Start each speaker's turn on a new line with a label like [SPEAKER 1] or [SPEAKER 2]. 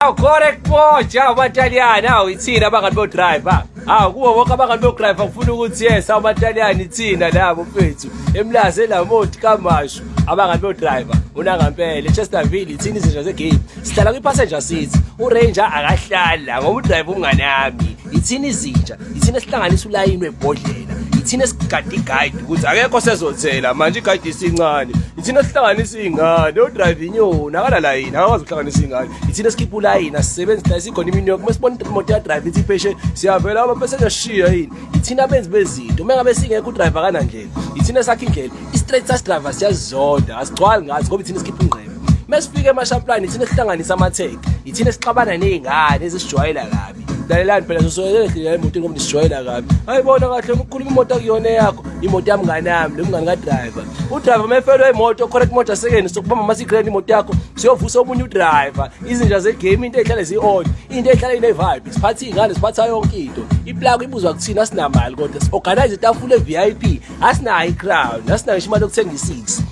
[SPEAKER 1] Aw correct boja abataliyane aw ithina abangani bo driver aw kuwo wonke abangani bo driver ngifuna ukuthi yes abataliyane ithina labo mfethu emlaze lamoti kamashu abangani bo driver unangampele Chesterville ithina izinja ze game sihlala kwi passenger seat u ranger akahlala ngoba u driver umngane yami yithina izinja yithina esihlanganisa ulayini webhodlela yithina esigade igayidi ukuthi akekho sezothela manje igayidi isincane yithina esihlanganisa iy'ngane odrayive inyoni akalalayini akakwazi ukuhlanganisa iy'ngane yithina esikhipha ulayini asisebenzi dayisa ikhona imini yoke uma sibona ukuthi imoto yadrayive ithi ipheshe siyavela abaphesesha shiya yini yithina abenzi bezinto uma ngabe singekho udrayive akanandlela yithina esakha indlela i-straight sas driver siyazizonda asigcwali ngathi ngoba yithina esikhipha ingqebe uma sifika emashaplani yithina esihlanganisa amatheke yithina esixabana ney'ngane ezisijwayela kabi lalelani phela sosoyelele ndlela yemoto ngoba nisijwayela kabi hayi bona kahle ukhuluma imoto akuyona eyakho imoto yamngane yami lomngane kadriver udriver uma efelwe imoto khona imoto asekeni sokubamba masigreni imoto yakho siyovusa omunye udriver izinja zegame into ehlale ziyi-on into ehlala ine-vibe siphatha iy'ngane siphatha yonke into iplako ibuzwa kuthina asinamali kodwa si-organize itafula e-vip asinayo i-crown asinayo isho imali yokuthenga isisi